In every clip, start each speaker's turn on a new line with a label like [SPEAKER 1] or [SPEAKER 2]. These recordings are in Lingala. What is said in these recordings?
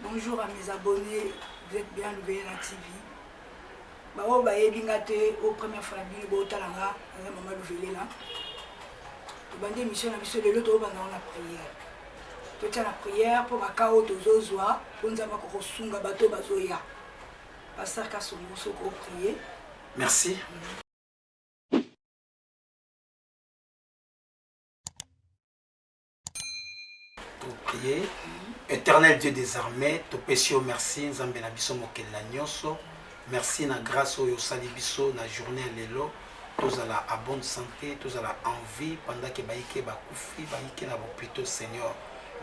[SPEAKER 1] Bonjour à mes abonnés, vous êtes bien lubele na TV. Ba oyo bayebi nga te, oyo première fois na bino botala nga, naza mama luvele na. Tobandi émission na biso lelo tobanda na prière. Totya na prière mpo baka oyo tozozwa mpo nzambe akokosunga bato oyo bazoya. Pasteur Kasongo soki oprier. Merci. Mm -hmm.
[SPEAKER 2] topriye éternel dieu des armées topesi yo merci nzambe na biso mokeli na nyonso merci na grâce oyo osali biso na journée ya lelo tozala à bonne santé tozala en vie pendant ke bayike bakufi bayike na bopito seigneur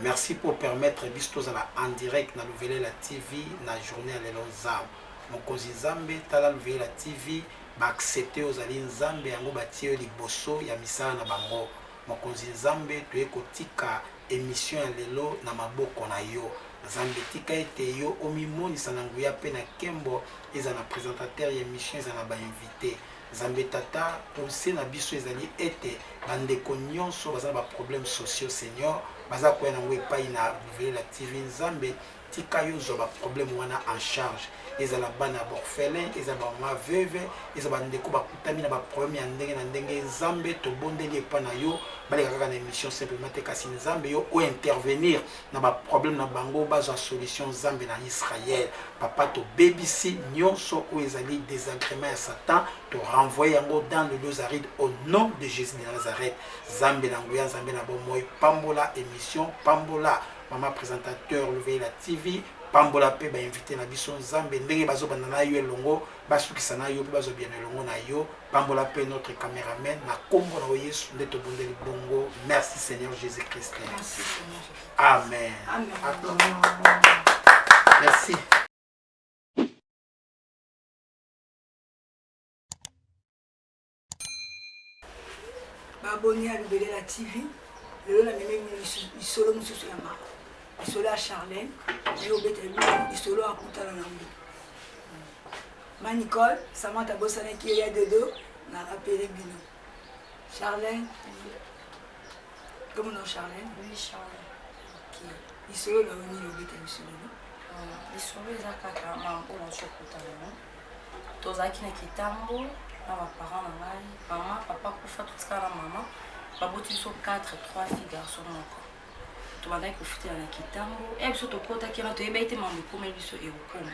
[SPEAKER 2] merci pour permettre biso tozala en direct na luvelela tv na journée ya lelo nzambe mokonzi nzambe tala luvelela tv baaccepte ozali nzambe yango batie yo liboso ya misala na bango Mokonzi Nzambe toye kotika emission ya lelo na maboko na yo Nzambe tika ete yo omimonisa na nguya pe na kembo ezala na presentateur ya emission ezala na ba invite Nzambe tata pouse na biso ezali ete ba ndeko nionso baza na ba problème sociaux seigneur baza koya na ngo epayi na Luvelela TV Nzambe Tika yo zwa ba problème wana en charge ezala bana ya b'orphelin ezala ba maman veuve ezala ba ndeko bakutami na ba problème ya ndenge na ndenge nzambe tobondeli epa na yo baleka kaka na emission simplement te kasi nzambe yo o intervenir na ba problème na bango bazwa solution nzambe na Israël papa tobebisi nyonso oyo ezali désagrément ya satan to renvoyer yango dans le dos aride au nom de Jésus de Nazareth nzambe na nguya nzambe na bomoi pambola emission pambola Maman presentateur Louveyela TV, pambola pe ba invite na biso Nzambe ndenge bazo banda na yo elongo basukisa na yo pe bazo biyano elongo na yo. Pambola pe notre cameraman na kombo na yo Yesu nde tobondeli bongo. Merci Seigneur Jésus Christ. Merci Seigneur. Amen.
[SPEAKER 1] Amen.
[SPEAKER 2] Amen. Merci.
[SPEAKER 1] Baboni ya Lubelela TV, lelo na meme lisolo mosusu ya mama, lisolo ya Charlène, ye obeta lisolo akutana na ngo. Ma Nicole, Samantha abosanaki yo ya dodo, na rappele bino. Charlène, comme non Charlène? Oui, Charlène.
[SPEAKER 3] Ok.
[SPEAKER 1] Lisolo na yo nini obeta lisolo? Lisolo
[SPEAKER 3] eza kaka mama oyo azokutana na tozalaki na kitambo na baparent na ngai mama papa kufa totikala na mama baboti biso 4 3 fille garçon moko tobandaki kofutela na kitambo e eh, biso tokotaki wana toyebaki te mambo ekomeli biso ekokoma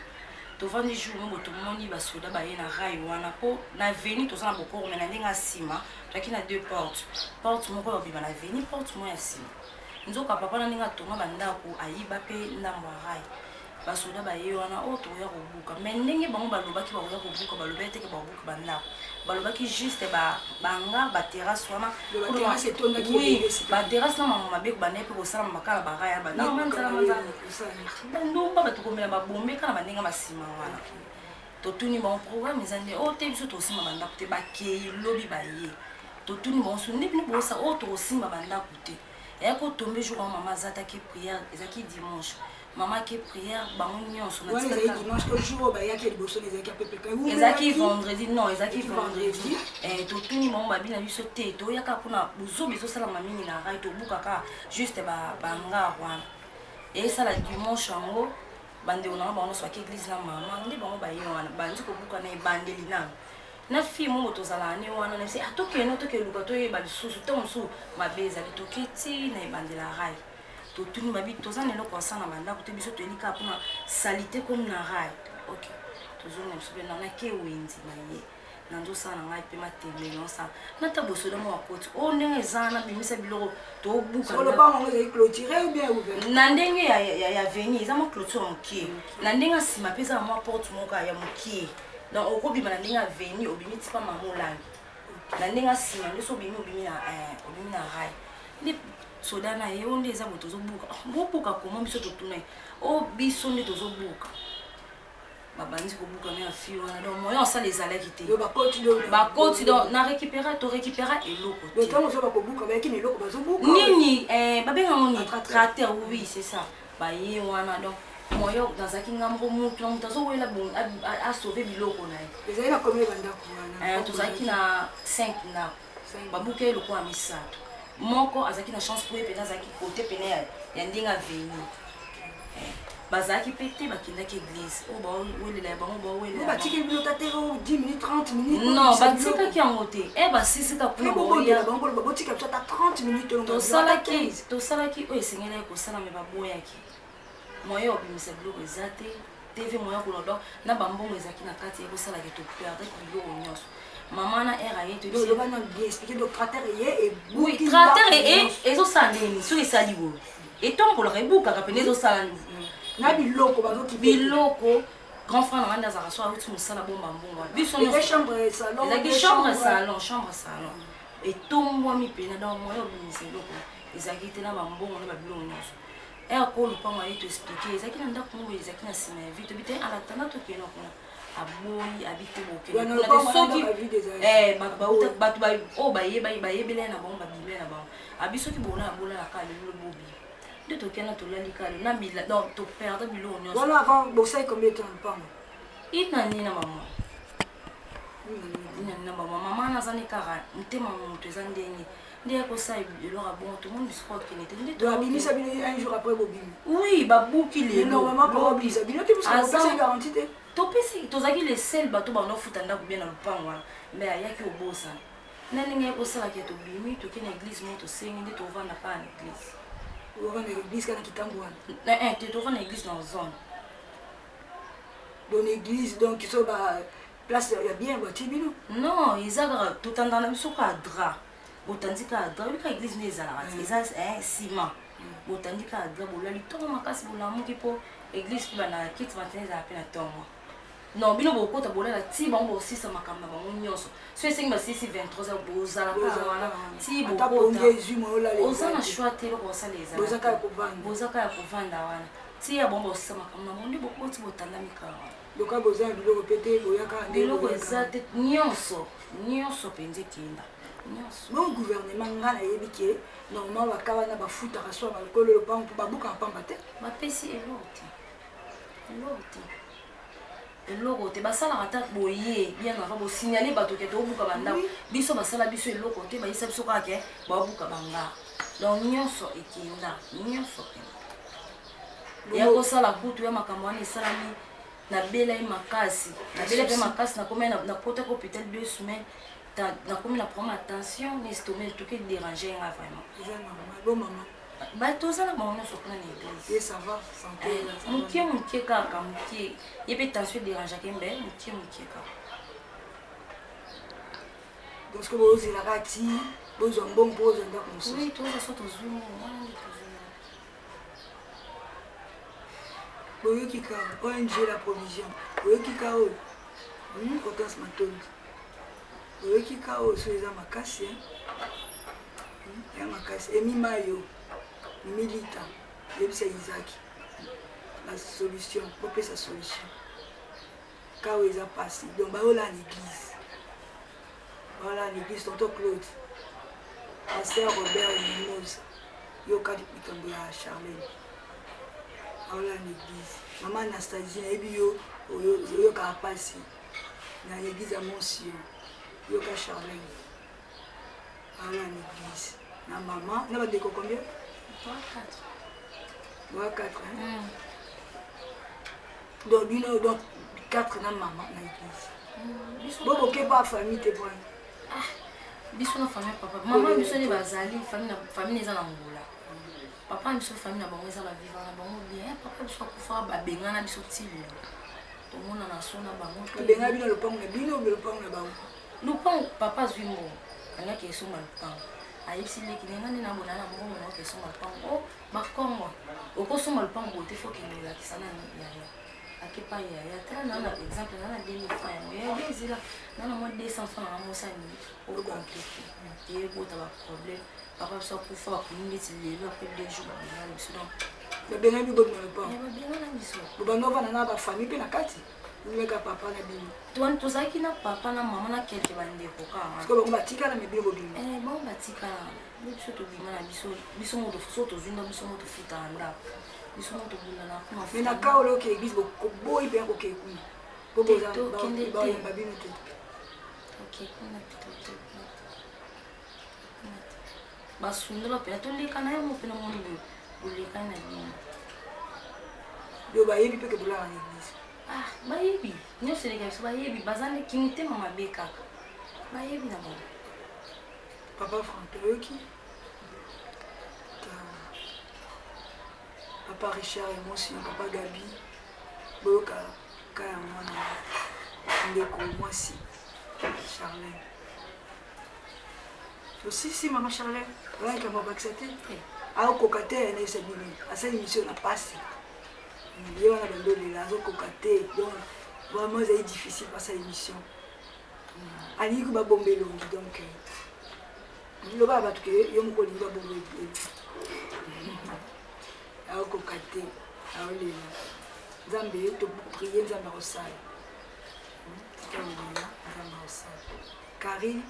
[SPEAKER 3] tovandi jour moko tomoni basoda baye na rai wana mpo na veni toza na bokoro me na ndenge ya nsima toyaki na deux porte porte moko ya obima na veni porte moko ya nsima nzoka papa na ndenge atonga bandako ayiba mpe ndambo ya rai basoda baye wana oyo oh, tokoya kobuka me ndenge bango balobaki bakoya kobuka balobaki teke bakobuka bandako balobaki juste banga baterrasse wana baterrasse na mango mabe kobanda mpe kosala makala baraya bandomba bato komela babombe kala bandenge masima wana totuni bango programme eza nde oyo oh, te biso tokosimba bandako te bakei lobi baye totuni bango so nde bino bosa oyo oh, tokosimba bandako te eya kotombe jour yango mama azataki priere ezalaki dimanche Maman qui prière, bango nyonso na tika. Ezaki dimanche au jour oyo
[SPEAKER 1] bayaki ya liboso na ezaki apepe kai. Ezaki vendredi,
[SPEAKER 3] non, ezaki vendredi. Eh, totuni bango babi na biso te, toyaka mpona bozoba ezosalama mingi na rai, tobukaka juste bangar wana. Esala dimanche yango, bandeko na bango bango nyonso baki eglise na mama, nde bango baye wana, bandi kobuka na ebandeli nano. na fille moko tozalaka ne wana nayebisi atokende ah, tokende luka toyeba lisusu ntango mosusu mabe ezali toke ti na ebandela rai totuni babi toza na eloko ya sana bandako te biso toyeli kaka mpona salite comme na rai ok tozonga biso mpe nana ke wenzi na ye nanzosala na ngai mpe matembe naosala nata bosoda mwa bakoti o oh, ndenge eza na bimisa biloko tobukaana ndenge ya veni eza mwa clôture ya mokie na ndenge ya nsima mpe eza na mwa porte moka ya mokie donc okobima na ndenge ya veni obimi tipa mamolangi na ndenge asima nde so obimi obimi na eh, obimi na rai nde soda na ye o nde eza boye tozobuka bobuka koma biso totuna ye o biso nde tozobuka babandi kobuka na ya fi wana donc moyen osala ezalaki te bakoti donc na récupéra to récupéra eloko nini eh, babenga ngo nini trater oui c'est ça baye wana donc moyen nazalaki nga moko mutu na mutu azowelela asauve biloko na ye ezali na komi bandako wana eh, tozalaki na 5 ndako babuka ye lokola misato moko azalaki na chance po ye mpena azalaki kote pene ya ndenge aveni eh, bazalaki mpe te bakendaki eglise oyo oh, bawelela ya bango bawelela bino ta te 10 oh,
[SPEAKER 1] minutes 30 minutes non batikaki yango
[SPEAKER 3] te e eh, basisika kuna botika biso
[SPEAKER 1] ata 30 minutes tosalaki tosalaki
[SPEAKER 3] oyo esengelaki kosala me baboyaki moyen ya kobimisa biloko eza te tv moyen ya kolodon na bambongo ezalaki na kati ekosalaki toperde biloko nyonso mama na r aye toyoloba na bien expliqué donc cratère eye ebuki cratère eye ezosala ndeni soki esali boye etombolaka ebukaka mpena ezosala mm. na biloko
[SPEAKER 1] bazoki biloko
[SPEAKER 3] grand frère nanga nde azalaka so auti mosala bomba mbongo biso ezalaki chambre salon chambre salon etombwami mpena donc moyen obimisa eloko ezalaki te na bambongo na babilongo nyonso ere ko lopango aye to explike ezalaki na ndako moko ezalaki na nsima ya vie tobi te alatanda tokenda kuna aboyi abite bokesoki eh, bato oyo bayebaki bayebelai na bango babimai na bango abi soki bona abola na kaka lelo bobi nde tokenda tolali kaka lelo na bila donc toperda biloko nyonso une année na mama mama naza ne kaka motema moto eza ndenge nde akosala eloko abongo tomoni bisiko akende te ndeabimisa bino un jour après bobimi oui babuki leloabimisa bino te garanti te topesi tozalaki le sel bato banofuta ndako bie na lopango wana mai ayaki obosana na ndenge ekosalaka tobimi toke na eglise mo tosengi nde tovanda mpaa na eglise wana te tovanda na eglise na zone Bon
[SPEAKER 1] église donc so ba place ya bien batie bino non eza kaka
[SPEAKER 3] totanda na biso kaka dra botandi kaka dra oyebi kaka église nde ezalaka te eza nsima botandi kaka dra bolali ntongo makasi bolamuki mpo église mpe bana kiti matene ezala mpe na ntongo non bino bokota bolala ti bango bosisa makambo na bango nyonso so esengi basisi 23 bozala kaka wana ti bokotaoza na shoi te eloko basala ezalabozaka ya kovanda wana tia bango bakosisa makambo na bango nde bokoti botandami kaka loka boza na biloko mpe te boyaka biloko eza te nyonso nyonso mpenza ekenda nyonso bon
[SPEAKER 1] gouvernement nga nayebi ke normalement baka wana bafutaka so balokolo lopango mpo babukaka pamba te bapesi eloko
[SPEAKER 3] te eloko te eloko te basalaka ata boye bien avant bosignale bato ke tobuka bandako biso basala biso eloko te bayisa biso kaka ke babuka banga donc nyonso ekenda nyonso ya kosala kutu ya makambo wana esalami nabelai makasi nabela mpe makasi nakomi nakotaki hôpital deux semaines nakomi na problème ya tension na estome etuki dérange nga vraiment mais toza na bango nyonso kuna na eglise eh, eh, moke moke kaka moke ye mpe tension ederangeake mbe moke moke kaka
[SPEAKER 1] parce que bozelaka ti bozwa mbongo mpo ozwa ndako mosusu toza so tozwi boyoki ka ong la provision boyoki ka oyo hmm, otas matondi boyoki ka oyo so eza makasi ya makasi emi mayo milita yebisa izaki la solution bopesa solution kawa eza pasi donc bayola na église bayola na église tonto claude pasteur robert mimosa yokaki likambo ya charlene bayola na église mama anastasie nayebi yo oyokaka pasi na église ya monsio yoka charlene Awa na l'église na maman na ba ndeko combien? 3 4. Ba 4 hein? Mm. Donc bino donc 4 na maman na l'église. Mm. Bobo ke ba famille te bwana. Ah.
[SPEAKER 3] Biso na famille papa. Maman biso ni bazali famille na famille eza na ngola. Papa biso famille na bango eza ba vivant na bango bien. Eh, papa biso akufa ba bengana biso tilo. Tomona na sona bango. Tobenga bino lopango na
[SPEAKER 1] bino, lopango na bango. Lupangu papa
[SPEAKER 3] azui mbongo alingi ake esomba lupangu ayebisi leki ne nga nde nabona na mbongo na oke esomba lupangu o oh, bakongo okosomba lupangu boye te foki nde olakisa na yaya ake pa yaya tala na na exemple na na 2000 francs yango yaya nde ezela na na mwa 200 francs nanga mosani okonkrete eyebota baproblème papa biso akufa bakomi ndeti lelo apres deux jours babengana biso donc babengani biso eh,
[SPEAKER 1] babengana biso
[SPEAKER 3] bobanda ovanda na
[SPEAKER 1] bafamille mpe na kati meka papa na bino tuani tozalaki na papa
[SPEAKER 3] na mama na kelke bandeko kakabango batikala me bino
[SPEAKER 1] bobima eh, bango batikala
[SPEAKER 3] biso tobima na biso biso moto so tozwi nda biso moto futaka ndako biso moto tobundana kuna me na ka ola oke eglise
[SPEAKER 1] boboyi mpe akoke kuna po boyamba bino te
[SPEAKER 3] basundola mpena toleka na yango mpena moni boye bolekani na bino yo
[SPEAKER 1] bayebi mpe kebolaka na eglise ah, bayebi
[SPEAKER 3] nyonso eleka biso bayebi baza nde kimitema mabe kaka bayebi na bango
[SPEAKER 1] papa frank oyoki papa richard emosi papa gabi boyoka ka ya mwana ndeko mwasi charlene si si mama charle oyaki yango abakisa te aokoka te ya nayebisa bino asali misio na mpasi ye wana bando olela azokoka te donc vraiment ezali difficile mpasa émission hmm. alingi ko babomba elongi donc euh, loba ya bato ke yo moko olingi babomba elongi aokoka te aolela nzambe toprie nzambe akosala hmm. nzambe akosala Carine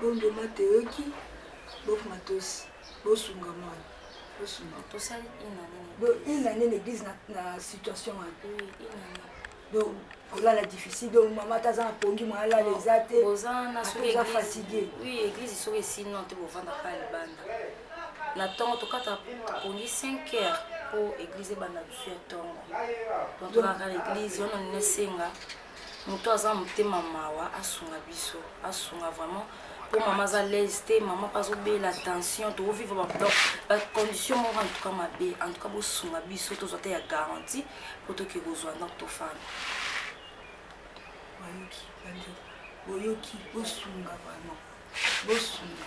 [SPEAKER 1] bondo ma toyoki bof matos bosunga mwana bosunga tosali une
[SPEAKER 3] année donc une
[SPEAKER 1] année na église na, na situation wana oui, une année donc kolala difficile donc mama ata aza na pongi mwa alala eza te oza fatigue oui église soki
[SPEAKER 3] esino te bovanda pa libanda na ntongo tokata pongi 5 heures mpo église ebanda bisu ya ntongo donc tokaka na église wana nini esenga Mutu aza motema mawa asunga biso asunga vraiment po mama aza laise te mama mpe azobela tension tovivre badon bacondition moko en tout cas mabe en tout cas bosunga biso tozwa te ya garantie po toke kozwa donc tofanda
[SPEAKER 1] bayoki bandeko boyoki bosunga vraiment bosunga